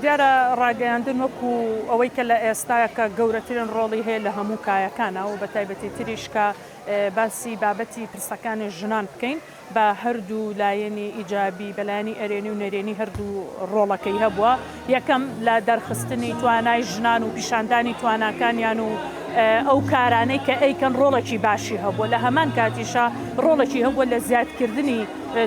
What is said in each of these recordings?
دیارە ڕاگەیاندن وەکو ئەوەی کە لە ئێستاکە گەورەترین ڕۆڵی هەیە لە هەموو کایەکانا و بە تایبەتی تریش کە باسی بابەتی پرسەکانی ژنان بکەین بە هەردوو لایەنی ئیجابی بە لایەنی ئەرێنی و نەرێنی هەردوو ڕۆڵەکەی هەبووە یەکەم لە دەرخستنی توانای ژنان و پیشاندانی تواناکانیان و ئەو کارانەی کە ئەیکەن ڕۆڵێکی باشی هەبووە لە هەمان کاتیشە ڕۆڵێکی هەبووە لە زیادکردنی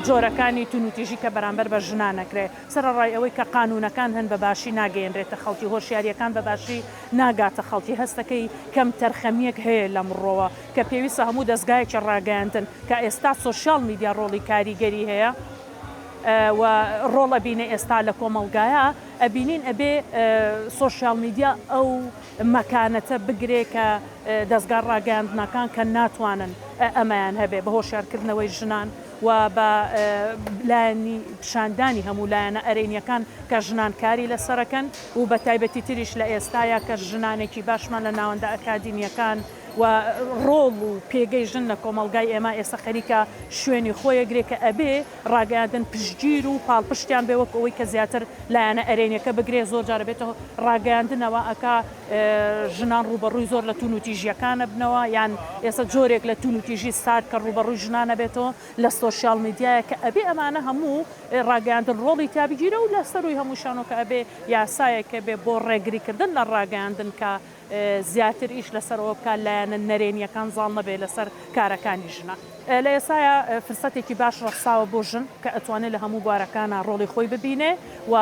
جۆرەکانی تونوتیژی کە بەرامبەر بە ژنانەکرێ سەرەڕای ئەوەی کە قانوونەکان هەن بەباشی ناگەیەنرێتە خەڵکی، هۆشیارییەکان بەباشی ناگاتە خەڵکی، هەستەکەی کەمتەرخەمییەک هەیە لەم ڕووەوە کە پێویستە هەموو دەزگایەکی ڕاگەیاندن کە ئێستا سۆشیال میدیا ڕۆڵی کاریگەری هەیە و ڕۆڵ ئەبینێ ئێستا لە کۆمەڵگایا ئەبینین ئەبێ سۆشیال میدیا ئەو مەکانەتە بگرێ کە دەزگا ڕاگەیاندنەکان کە ناتوانن ئەمەیان هەبێ بە هۆشیارکردنەوەی ژنان و بە لایەنی پیشاندانی هەموو لایەنە ئەرێنیەکان کە ژنان کاری لەسەرەکەن و بە تایبەتی تریش لە ئێستایا کە ژنانێکی باشمان لە ناوەندە ئەکادیمیەکان و ڕۆڵ و پێگەی ژن لە کۆمەڵگای ئێمە ئێستا خەریکە شوێنی خۆی ئەگرێ کە ئەبێ ڕاگەیاندن پشتگیر و پاڵپشتیان بێ وەک ئەوەی کە زیاتر لایەنە ئەرێنیەکە بگرێ زۆر جار ئەبێتە ڕاگەیاندنەوە ئەکا ژنان ڕووبەڕووی زۆر لە توونوتیژییەکان ئەبنەوە یان ئێستا جۆرێک لە توونوتیژی سارد کە ڕووبەڕووی ژنان ئەبێتەوە لە سۆشیاڵ میدیایە کە ئەبێ ئەمانە هەموو ڕاگەیاندن ڕۆڵی تیا بگیرێ و لە سەرووی هەمووشیانەوە کە ئەبێ یاسایەک هەبێ بۆ ڕێگریکردن لە ڕاگەیاندن کە زیاتر ئیش لەسەر ئەوە بکا لایەنە نەرێنییەکان زاڵ نەبێ لەسەر کارەکانی ژنان. لە ئێستایا فرسەتێکی باش ڕەخساوە بۆ ژن کە ئەتوانێ لە هەموو بوارەکانا ڕۆڵی خۆی ببینێ و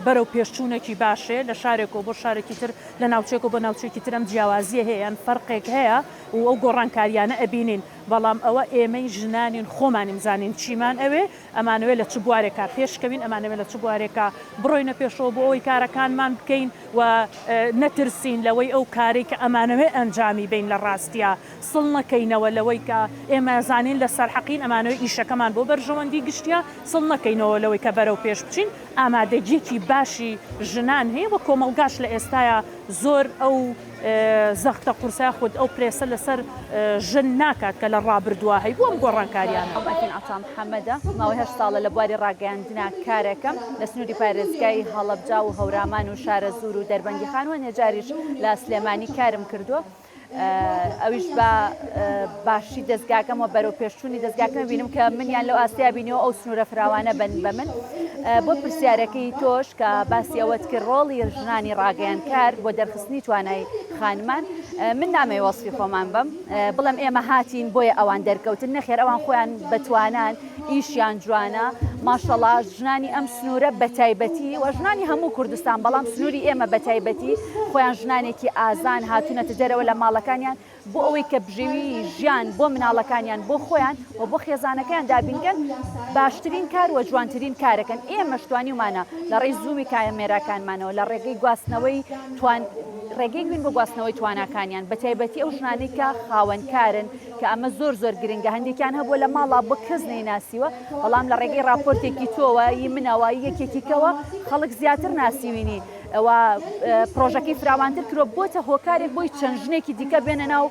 بەرەو پێشچوونەکی باشێ لە شارێکەوە بۆ شارێکی تر لە ناوچەیەکەوە بۆ ناوچەیەکی تر ئەم جیاوازییە هەیە یان فەرقێک هەیە و ئەو گۆڕانکارییانە ئەبینین بەڵام ئەوە ئێمەی ژنانین خۆمانین زانین چیمان ئەوێ ئەمانەوێ لە چ بوارێکا پێشکەوین ئەمانەوێ لە چ بوارێکا بڕۆینە پێشەوە بۆ ئەوەی کارەکانمان بکەین و نەترسین لەوەی ئەو کارەی کە ئەمانەوێ ئەنجامی بەین لە ڕاستیا سڵ نەکەینەوە لەوەی کە ئێمە زانین لە سەر حەقین، ئەمانەوێت ئیشەکەمان بۆ بەرژەوەندی گشتیە سڵ نەکەینەوە لەوەی کە بەرەو پێش بچین، ئامادەگیەکی باشی ژنان هەیە و کۆمەڵگاش لە ئێستایا زۆر ئەو زەختە قورسە یاخود ئەو پرێسە لە سەر ژن ناکات کە لە ڕابردووا هەیبوو ئەم گۆڕانکاریانە. ئەڤین عەتام حەمەدە، ماوەی هەشت ساڵە لە بواری ڕاگەیاندنا کارەکەم، لە سنوری پارێزگای هەڵەبجا و هەورامان و شارەزوور و دەربەندیخان و نەجاریش لە سلێمانی کارم کردووە، ئەویش بە باشی دەستگاکەم و بەرەو پێشچوونی دەستگاکە بینم کە منیان لەو ئاستیا بینیەوە ئەو سنوورە فراوانە بن بە من بۆ پرسیارەکەی تۆش کە باسی ئەوەت کرد ڕۆڵی ژنانی ڕاگەیان کار بۆ دەرخستنی توانای خانمان من نامەی وەسفی خۆمان بم بڵم ئێمە هاتین بۆیە ئەوان دەرکەوتن نەخێر ئەوان خۆیان بەتوانان ئیشیان جوانە ماشەڵا ژنانی ئەم سنوورە بەتایبەتی و ژنانی هەموو کوردستان بەڵام سنووری ئێمە بەتایبەتی خۆیان ژنانێکی ئازان هاتوونەتە دەرەوە لە ماڵەکانیان بۆ ئەوەی کە بژێوی ژیان بۆ مناڵەکانیان بۆ خۆیان و بۆ خێزانەکەیان دابینکەن باشترین کار و جوانترین کارەکەن ئێمەشتوانیمانە لە ڕێی زوومی کامێراکانمانەوە لە ڕێگەی گواستنەوەی توان ڕێگەی بووین بۆ گواستنەوەی تواناکانیان بەتایبەتی ئەو ژنانەی کە خاوەنکارن کە ئەمە زۆر زۆر گرنگە هەندێکیان هەبووە لە ماڵا بە کەس نەیناسیوە بەڵام لە ڕێگەی راپۆرتێکی تۆوە ی منەوە یەکێکیکەوە خەڵک زیاتر ناسیوینی ئەوە پرۆژەکەی فراوانتر کرۆ بۆتە هۆکارێک بۆی چەند ژنێکی دیکە بێنە ناو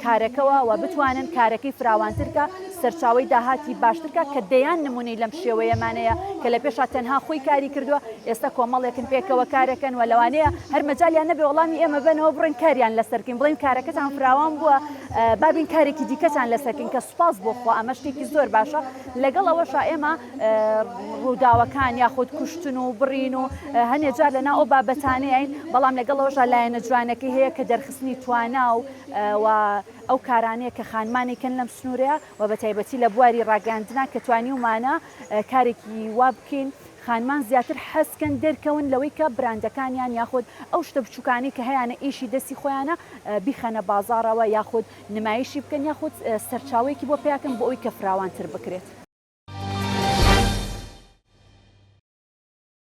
کارەکەەوە و بتوانن کارەکەی فراوانترکە سەرچاوی داهاتی باشترکە کە دەیان نمونەی لەم شێوەیەمانەیە کە لە پێشا تەنها خۆی کاری کردووە ئێستا کۆمەڵێکن پێکەوە کارەکەن و لەوانەیە هەرمەجاالیان نەبێ وەڵامی ئێمە بنەوە بڕێن کاریان لەسەرکەین بڵێن کارەکەتان فراوان بووە با بین کارێکی دیکەتان لەسەر بکەین کە سوپاس بۆ خوا ئەمە شتێکی زۆر باشە لەگەڵ ئەوەشا ئێمە ڕووداوەکان یاخود کوشتن و بڕین و هەنێ جار لەنا ئەو بابەتانەیەین بەڵام لەگەڵ ئەوشا لایەنە جوانەکەی هەیە کە دەرخستنی توانا و ئەو کارانەیە کە خانمانی کەن لەم سنوورەیە و بە تایبەتی لە بواری ڕاگەاندنا کە توانی ومانە کارێکی وا بکەین خانمان زیاتر حەزکەن دەرکەون لەوەی کە براندەکانیان یاخود ئەو شتە بچوکانەی کە هەیانە ئیشی دەستی خۆیانە بیخەنە بازاڕەوە یاخود نمایشی بکەن یاخود سەرچاوەیەکی بۆ پیاکەن بۆ ئەوی کە فراوانتر بکرێت.